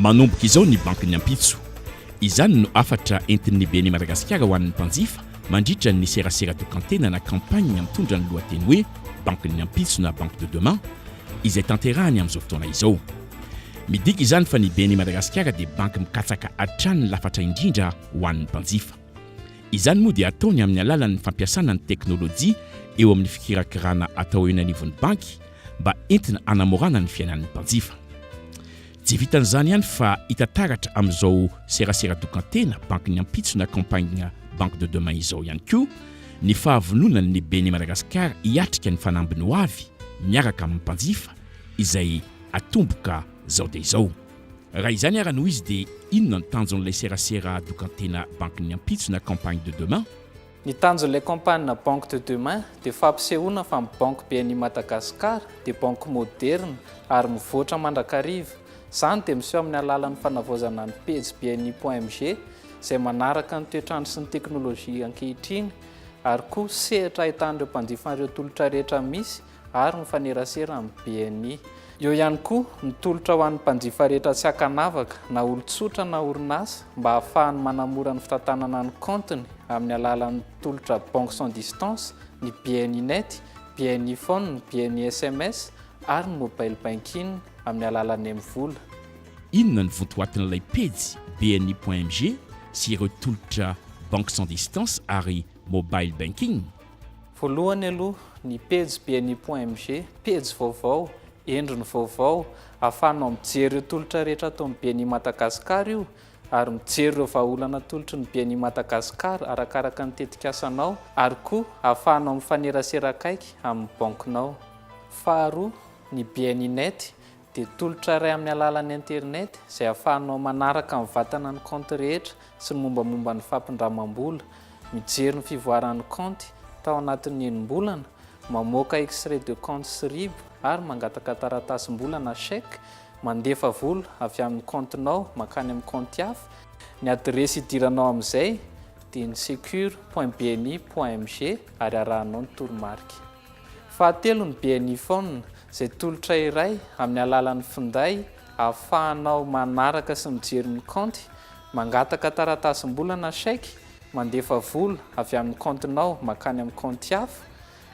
Manomboka izao ny bankin'ny ampitso. Izany no hafatra entin'ny Beni Madagasikara ho an'ny mpanjifa mandritra ny serasera tokan-tena na campagne mitondra ny lohateny hoe Bankin'ny ampitso na Banque de demain izay tanterahany amin'izao fotoana izao. Midika izany fa ny BNI Madagasikara dia banky mikatsaka hatrany ny lafatra indrindra ho an'ny mpanjifa. Izany moa dia ataony amin'ny alalan'ny fampiasana ny teknolojia eo amin'ny fikirakirana atao eny anivon'ny banky mba entina hanamorana ny fiainan'ny mpanjifa. Tsy vitan'izany ihany fa hita taratra amin'izao serasera tokan-tena banky ny ampitso na campagne Banque de demain izao ihany koa ny fahavononan'ny Beni Madagascar hiatrika ny fanambiny ho avy miaraka amin'ny mpanjifa izay atomboka izao dia izao. Raha izany ara no izy dia inona ny tanjon'ilay serasera dokan-tena banky ny ampitso na campagne de demain? Ny tanjon'ilay kaompania Banque de Demain dia fampisehoana fa ny Banky be an'I Madagasikara dia Banky moderina ary mivoatra mandrakariva. Izany dia miseho amin'ny alalan'ny fanavaozana ny pejy bni.mg izay manaraka ny toetr'andro sy ny teknolojia ankehitriny ary koa sehatra ahitana ireo mpanjifa an'ireo tolotra rehetra misy ary mifanerasera amin'ny BNI. Eo ihany koa ny tolotra ho an'ny mpanjifa rehetra tsy ankanavaka na olon-tsotra na orinasa mba hahafahany manamora ny fitantanana ny kaontiny amin'ny alalan'ny tolotra Banque sans distance, ny BNI Net, BNI Phone, BNI sms ary ny Mobile Banking amin'ny alalan'ny mvola. Inona ny vontoatin'ilay pejy bni.mg sy ireo tolotra Banque sans distance ary Mobile Banking? Voalohany aloha, ny pejy bni.mg, pejy vaovao, endriny vaovao, ahafahanao mijery ireo tolotra rehetra ataon'ny bni Madagascar io ary mijery ireo vahaolana atolotry ny bni Madagascar arakaraka ny tetikasanao ary koa ahafahanao mifanerasera akaiky amin'ny bankinao. Faharoa, ny bni net, dia tolotra iray amin'ny alalan'ny internet izay ahafahanao manaraka mivantana ny kaonty rehetra sy ny mombamomba ny fampindramam-bola, mijery ny fivoaran'ny kaonty tao anatin'ny enim-bolana, mamoaka extrait de compte sy RIB ary mangataka taratasim-bola na chèque, mandefa vola avy amin'ny kaontinao mankany amin'ny kaonty hafa, Ny adiresy hidiranao amin'izay dia ny secure.bni.mg ary arahanao ny toromarika. Fahatelo ny BNI Phone, izay tolotra iray amin'ny alalan'ny finday ahafahanao manaraka sy mijery ny kaonty, mangataka taratasim-bola na chèque, mandefa vola avy amin'ny kaontinao mankany amin'ny kaonty hafa,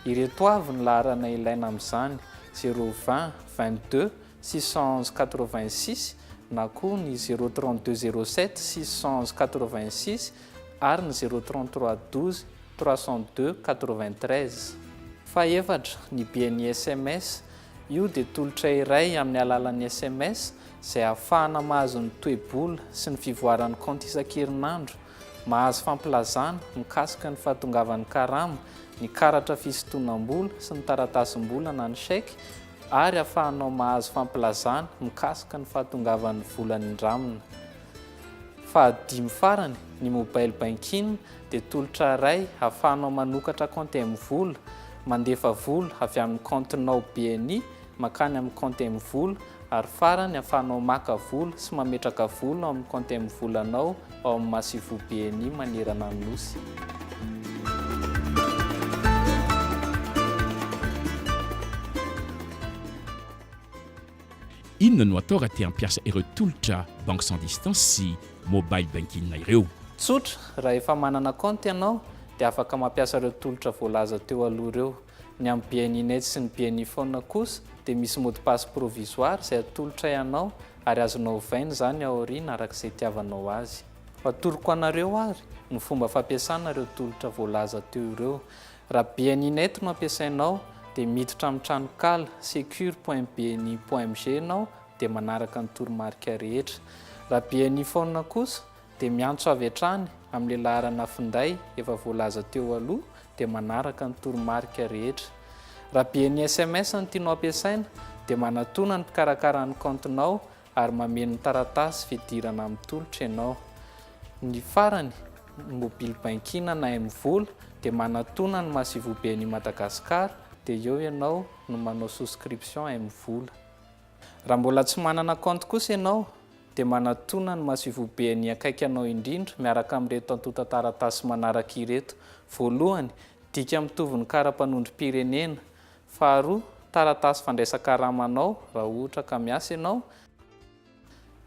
ireto avy ny laharana ilaina amin'izany, zéro vingt, vingt deux, six cent onze, quatre vingt six na koa ny zéro trente deux, zéro sept, six cent onze, quatre vingt six, ary ny 033 12 302 93. Fahefatra, ny bien'ny sms. Io dia tolotra iray amin'ny alalan'ny sms izay ahafahana mahazo ny toe-bola sy ny fivoaran'ny kaonty isan-kerinandro, mahazo fampilazana mikasika ny fahatongavan'ny karama, ny karatra fisintonam-bola sy ny taratasim-bola na ny chèque ary afahanao mahazo fampilazana mikasika ny fahatongavan'ny vola nindramina. Fahadimy farany, ny mobile banking dia tolotra iray ahafahanao manokatra kaonty mvola, mandefa vola avy amin'ny kaontinao BNI mankany amin'ny kaonty mvola ary farany ahafahanao maka vola sy mametraka vola ao amin'ny kaonty mvolanao ao amin'ny masivoho BNI manerana ny Nosy. Inona no atao raha te hampiasa ireo tolotra banque sans distance sy mobile banking ireo? Tsotra, raha efa manana kaonty ianao dia afaka mampiasa ireo tolotra voalaza teo aloha ireo. Ny amin'ny BNI Net sy ny BNI Phone kosa dia misy mot de passe provisoire izay atolotray anao ary azonao ovaina izany ao aoriana araka izay itiavanao azy. Atoroko anareo ary ny fomba fampiasana ireo tolotra voalaza teo ireo. Raha BNInet no ampiasainao dia miditra amin'ny tranonkala secure.bni.mg ianao dia manaraka ny toromarika rehetra. Raha BNI Phone kosa dia miantso avy hatrany amin'ilay laharana finday efa voalaza teo aloha dia manaraka ny toromarika rehetra. Raha BNI sms no tianao ampiasaina dia manatona ny mpikarakara ny kaontinao ary mameno taratasy fidirana amin'ny tolotra ianao. Ny farany, ny mobily bankiana na M-vola dia manatona ny Masoivoben'i Madagasikara dia eo ianao no manao souscription M-vola. Raha mbola tsy manana kaonty kosa ianao dia manatona ny Masoivoben'ny akaiky anao indrindra miaraka amin'ireto antontan-taratasy manaraka ireto, voalohany, dika mitovy ny kara-panondrom-pirenena, Faharoa, taratasy fandraisan-karamanao raha ohatra ka miasa ianao.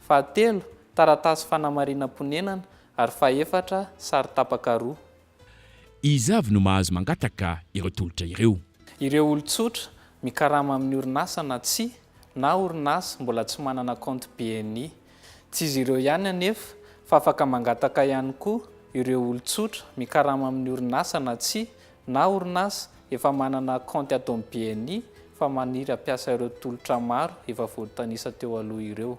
Fahatelo, taratasy fanamarinam-ponenana, ary fahefatra, sary tapaka roa. Iza avy no mahazo mangataka ireo tolotra ireo? Ireo olon-tsotra, mikarama amin'ny orinasa na tsia, na orinasa mbola tsy manana kaonty BNI. Tsy izy ireo ihany anefa, fa afaka mangataka ihany koa ireo olon-tsotra, mikarama amin'ny orinasa na tsia, na orinasa efa manana kaonty ato amin'ny bni fa maniry hampiasa ireo tolotra maro efa voatanisa teo aloha ireo.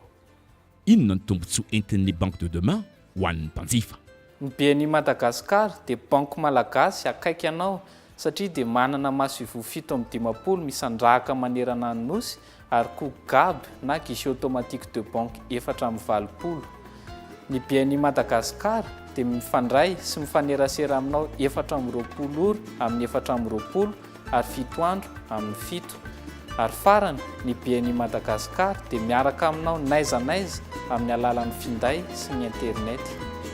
Inona ny tombontsoa entin'ny Banque de Demain ho an'ny mpanjifa? Ny bni Madagascar dia banky malagasy akaiky anao satria dia manana masoivoho fito amby dimampolo misandrahaka manerana ny Nosy ary koa gab na guichet automatique de banque efatra amby valopolo. Ny bni Madagascar dia mifandray sy mifanerasera aminao efatra amby roapolo ora amin'ny efatra amby roapolo ary fito andro amin'ny fito. Ary farany, ny bni Madagascar dia miaraka aminao n'aiza n'aiza amin'ny alalan'ny finday sy ny internet.